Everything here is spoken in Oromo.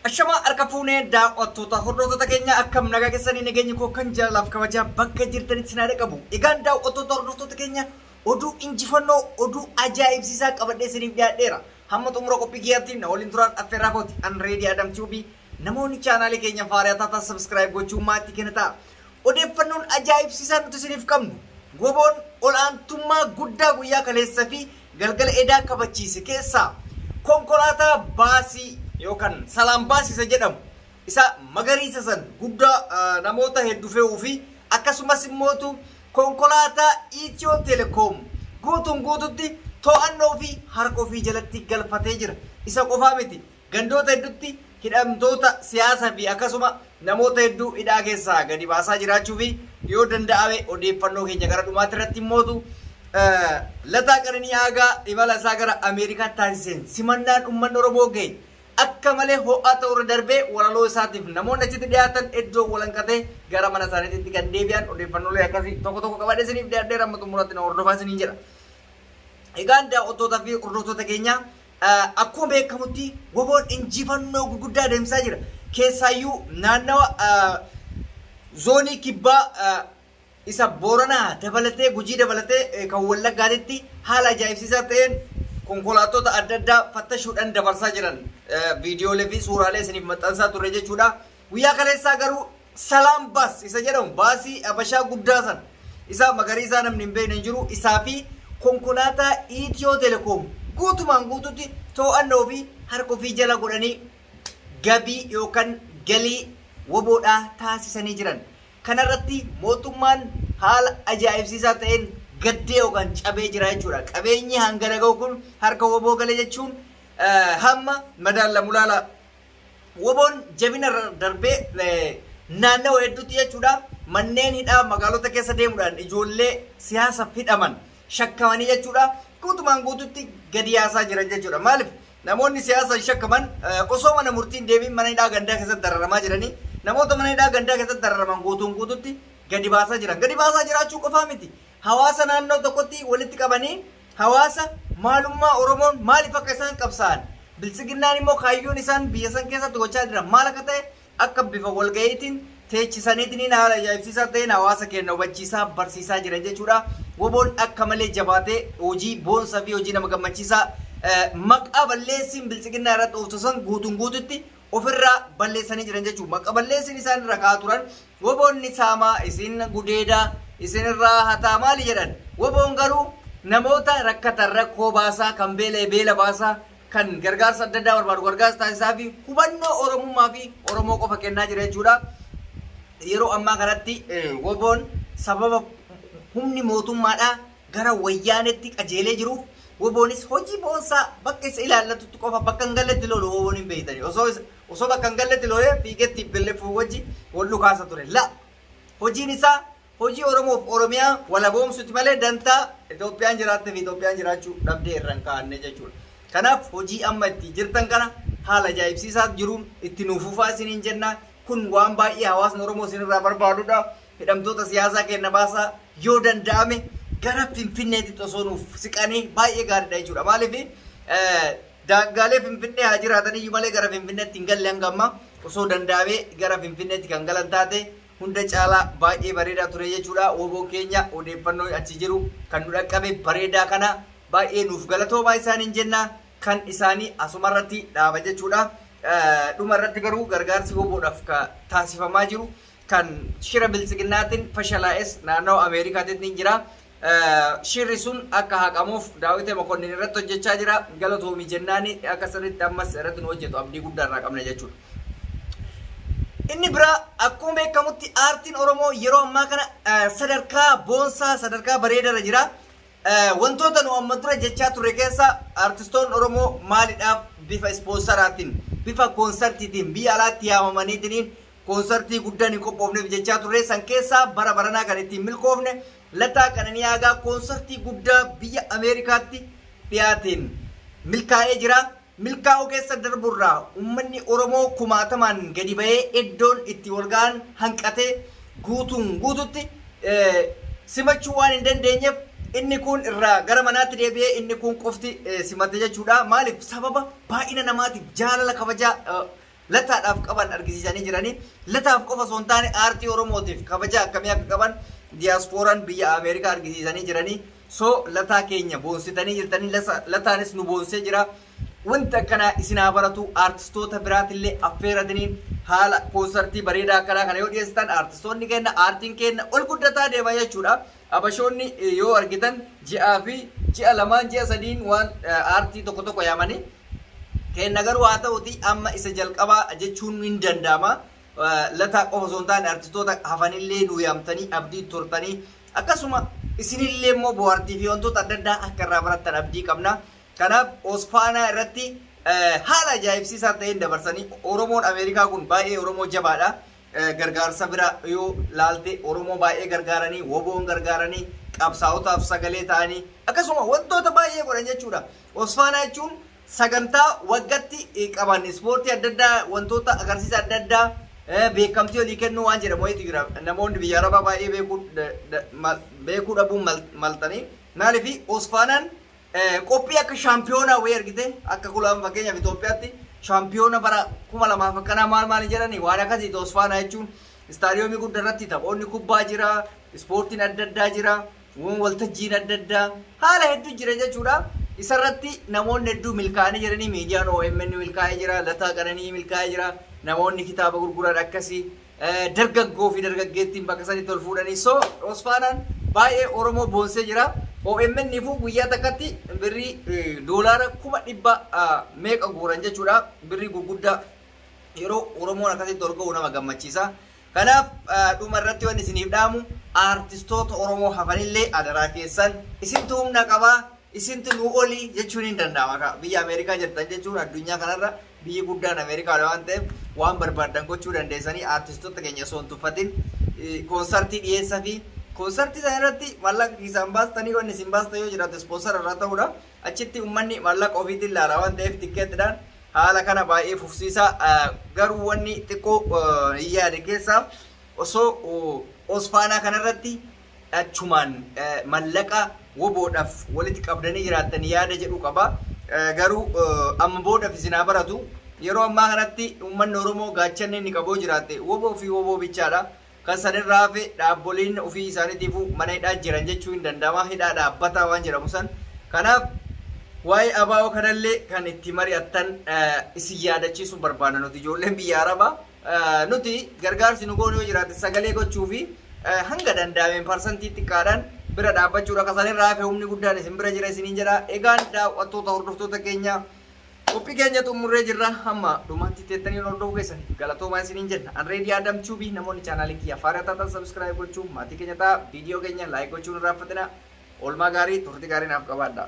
Ashamaa harka fuunee daaw'attoota hordoftoota keenya akkam nagaa keessanii nageenyi koo kan jaalalaaf kabajaa bakka jirtanitti sinaa dhaqabu. Egaan daaw'attoota hordoftoota keenya oduu injifannoo oduu ajaa'ibsiisaa qabadhee isiniif dhiyaadheera. Hamma xumura qophii kiyyaatti na waliin turaan affeerraa kooti. An Reedii Adam Tube namoonni chaanaalii keenya faariyaa taatan sabiskiraayib gochuun maatii keenya ta'a. Odeeffannoon ajaa'ibsiisaa nuti isiniif qabnu, Woboon ol'aantummaa guddaa guyyaa kaleessa fi galgala edaa kabachiise keessaa konkolaataa baasii yookan Salaam Baas isa jedhamu, isa magariisa san guddaa namoota heddu fe'uu fi akkasumas immootu konkolaataa Ethio Telecom guutuun guututti to'annoo fi harka ofii jalatti galfatee jira. Isa qofaa miti, Gandoota heddutti hidhamtoota siyaasa fi akkasuma namoota hedduu hidhaa keessaa gadi baasaa jiraachuu fi yoo danda'ame odeeffannoo keenya gara dhumaatti irratti immootu Lataa Qananii Aagaa imala isaa gara Ameerikaatti taasiseen simannaan ummanni Oromoo gahe akka malee ho'aa ta'uu irra darbee walaloo isaatiif namoonni achitti dhiyaatan iddoo walanqatee gara mana isaaniititti kan deebi'an odeeffannoolee akkasii tokko tokko qabadhee isiniif dhiyaadheera amma xumuraatti na hordofaa isiniin jedha. Egaan daawwattoota fi hordoftoota keenya Akkuma beekamutti Woboon injifannoo gurguddaa adeemsisaa jira. Keessaayyuu naannawa zoonii kibbaa isa Booranaa dabalatee Gujii dabalatee kan Wallaggaatitti haala ajaa'ibsiisaa ta'een konkolaattota adda addaa fattashuudhaan dabarsaa jiran viidiyoolee fi suuraalee isiniif maxxansaa turre jechuudha. Guyyaa kaleessaa garuu Salaam Baas isa jedhamu baasii Habashaa guddaa sana isaa magariisaa namni hin beekne hin jiru isaa fi konkolaataa Itiyoo Telekoom guutumaan guututti too'anna ofii harka ofii jala godhanii gabii yookaan galii waboodhaa taasisanii jiran. Kanarratti mootummaan haala ajaa'ibsiisaa ta'een gaddee yookaan cabee jira jechuudha. Qabeenyi hangana gahu kun harka waboo gale jechuun hamma madaallamu laala. Woboon jabina irra darbee naannawa hedduutti jechuudha manneen hidhaa magaalota keessa deemuudhaan ijoollee siyaasaf hidhaman shakkamanii jechuudha guutumaan guututti gadi yaasaa jiran jechuudha maaliif namoonni siyaasaan shakkaman osoo mana murtiin deebiin mana hidhaa gandaa keessatti dararamaa jiranii namoota mana hidhaa gandaa keessatti dararaman guutuun guututti gadi baasaa jiran gadi baasaa jiraachuu qofaa miti hawaasa naannoo tokkotti walitti qabanii Hawaasa maalummaa Oromoon maaliif akka isaan qabsaa'an, Biltsiginnaan immoo kaayyoon isaan biyya san keessatti gochaa jiran maal akka ta'e akka bifa walga'iitiin teechisaniitiniin haala ajaa'ibsiisaa ta'een hawaasa keenna hubachiisaa, barsiisaa jiran jechuu dha. Woboon akka malee jabaatee hojii boonsaa fi hojii nama gammachiisaa maqaa balleessiin Biltsiginnaa irratti ooftu san guutuun guututti ofirraa balleessanii jiran jechuun maqa balleessin isaan irra ka'aa turan woboon ni saamaa isin gudeedaa isin irraa hataa maali jedhan woboon garuu namoota rakkatan rakkoo baasaa kan beela'e beela baasaa kan gargaarsa adda addaa barbaadu gargaarsa taasisaa fi hubannoo oromummaa fi oromoo qofa kennaa jira jechuudha. Yeroo ammaa kanatti woboon sababa humni mootummaadhaa gara wayyaaneetti qajeelee jiruuf woboonis hojii boonsaa bakka isa ilaallatutti qofa bakka hin galletti lolu woboon hin beeytani osoo osoo bakka hin galletti lolee fiigee tplf wajji wol dhukaasa ture la hojiin isaa hojii oromoof oromiyaa walaboomsuti malee dantaa Itoophiyaan jiraatte fi Itoophiyaan jiraachuu dhabdee irra hin kaa'anne jechuudha kanaaf hojii amma itti jirtan kana haala ajaa'ibsiisaa jiruun itti nuuf fufaa isiniin jenna kun waan baay'ee hawaasni oromoo isin irraa barbaadudha Hidhamtoota siyaasaa keenna baasaa yoo danda'ame gara Finfinneetitti osoo nuuf siqanii baay'ee gaariidha jechuudha. Maaliif daangaalee Finfinnee haa jiraataniyyuu malee gara Finfinneetti hin galle hanga ammaa osoo danda'amee gara Finfinneetti kan galan taate hunda caalaa baay'ee bareedaa ture jechuudha. Woboon keenya odeeffannoo achi jiru kan nu dhaqqabe bareedaa kana baay'ee nuuf galatoomaa isaaniin jenna kan isaanii asumarratti dhaaba jechuudha. Dhuma irratti garuu gargaarsi woboodhaaf taasifamaa jiru kan shira biltsiginnaatin fashalaa'es naannawa Ameerikaatit nin jira. Shirri sun akka haqamuuf Daawite Mokonnin irratti hojjechaa jira. Galatoomi jennaani akka sirritti ammas irratti nu hojjetu abdii guddaa irraa qabna jechuudha. Inni biraa akkuma beekamutti aartiin Oromoo yeroo ammaa kana sadarkaa boonsaa sadarkaa bareedarra jira. Wantoota nu amma dura jechaa turre keessa aartistoonni Oromoo maalidhaaf bifa ispoonsaraatiin bifa koonsartiitiin biyya alaatti yaamamaniitiin Konsartii guddaan hin qophoofneef jechaa turre san keessaa bara baranaa kan ittiin milkoofne Lataa Qananii Aagaa konsartii guddaa biyya Ameerikaatti dhiyaateen milkaa'ee jira. Milkaa'uu keessa darburraa ummanni Oromoo kumaatamaan gadi bahee eddoon itti wal ga'an hanqatee guutuun guututti simachuu waan hin dandeenyeef inni kuun irraa gara manaatti deebi'ee inni kuun qofti simate jechuudha. Maaliif sababa baay'ina namaatiif jaalala kabajaa Lataadhaaf qaban argisiisanii jiranii. Lataaf qofa osoo hin taane aartii Oromootiif kabaja akkamii akka qaban diyaaspooraan biyya Ameerikaa argisiisanii jiranii. So Lataa keenya boonsitanii jirtanii lasa Lataanis nu boonsee jira. Wanti akkanaa isin haa baratu aartistoota biraatillee affeeratiniin haala koonsartii bareedaa akkanaa kana yoo dhiyeessitan aartistoonni keenna aartiin keenna ol guddataa deema jechuudha. Habashoonni yoo argitan ji'aa fi ji'a lamaan ji'a sadiin waan aartii tokko tokko yaamanii kenna garuu haa ta'uti amma isa jalqabaa jechuun hin danda'ama. Lataa qofa osoo hin taane artistoota hafanillee nu yaamtanii abdii turtanii akkasuma isinillee immoo bohaartii fi wantoota adda addaa akka irraa barattan abdii qabna. Kanaaf Osfaanaa irratti haala ajaa'ibsiisaa ta'een dabarsanii Oromoon Ameerikaa kun baay'ee Oromoo jabaadha. gargaarsa bira yoo laalte Oromoo baay'ee gargaaranii, WBOn gargaaranii, qabsaa'otaaf sagalee ta'anii akkasuma wantoota baay'ee godhan jechuudha. Osfaanaa jechuun sagantaa waggatti qaban ispoortii adda addaa wantoota agarsiisa adda addaa beekamtii olii kennuu waan jedhamu wayiitu jira. Namoonni biyya Arabaa baay'ee beekuu dhabuun maltanii maaliif Osfaanaan Qophii akka shaampiyoonaa wayii argite akka kula amma fakkeenyaaf Itoophiyaatti shaampiyoona bara kuma lamaa fi akkanaa maal maal hin jedhani waan akkasii toosfaanaa jechuun istaadiyoomii gudda irratti taphoonni kubbaa jira ispoortiin adda addaa jira waan waltajjiin adda addaa haala hedduu jira jechuudha isarratti namoonni hedduu milkaa'anii jiranii miidiyaan OMN milkaa'ee jira lataa qananii milkaa'ee jira namoonni kitaaba gurguran akkasii Dargaggoo fi dargaggeettiin bakka sanitti ol fuudhanii so Osfaanaan baay'ee Oromoo boonsee jira. OMN fu guyyaa takkatti birrii doolaara kuma dhibba meeqa guuran jechuudha. Birrii gurguddaa yeroo Oromoon akkasitti ol ka'u nama gammachiisa. Kanaaf dhuma irratti waan isiniif dhaamu aartistoota Oromoo hafanillee adaraa keessan isintu humna qaba isintu nuu oli jechuun hin danda'ama. Biyya Ameerikaa jirtan jechuun addunyaa kanarra Biyyi guddaan Ameerikaadha waan ta'eef waan barbaaddan gochuu dandeessanii artistoota keenya osoo hin tuffatin koonsartii dhiyeessafi. Koonsartii sana irratti maallaqa keessaan baastanii wanni isin baastan yoo jiraate ispoonsara irraa ta'uudha. Achitti uummanni maallaqa ofiitiin ilaala waan ta'eef tikkeetidhaan haala kana baay'ee fufsiisa. Garuu wanni xiqqoo hin yaade keessaa osoo osfaanaa kanarratti achumaan mallaqa wbo dhaf waliti qabdani jiraattan yaada jedhu qaba garu amma boodaf isin haa baratu yeroo ammaa kanatti ummanni oromoo gaachanni inni qabu yoo jiraatte wbo fi wbo bichaadha kan san irraa hafe dhaabboliin ofii isaanitiifu mana hidhaa jiran jechuu hin danda'ama hidhaa dhaabbataa waan jedhamu san kanaaf waa'ee abaa'oo kanallee kan itti mari'attan isin yaadachiisu barbaanna nuti ijoolleen biyya arabaa Nuti gargaarsi nu goonu yoo jiraate sagalee gochuu fi hanga danda'ameen parsantii xiqqaadhaan bira dhaabbachuudha. Ka sanirraa hafe humni guddaan isin bira jira isiniin jedha. Egaan daawwattoota hordoftoota keenya qophii keenya xumurree jirra. Hamma dhumaatti teettanii nu hordofuu keessaniif galatoomaa isiniin jenna. An Reedii Adam Tube namoonni chaanaalii kiyya faayidaa taatan sabiskiraayib gochuun maatii keenya ta'a. Viidiyoo keenya laayik gochuu hin irraanfatina. Oolmaa gaarii turtii gaarii naaf qabaadha.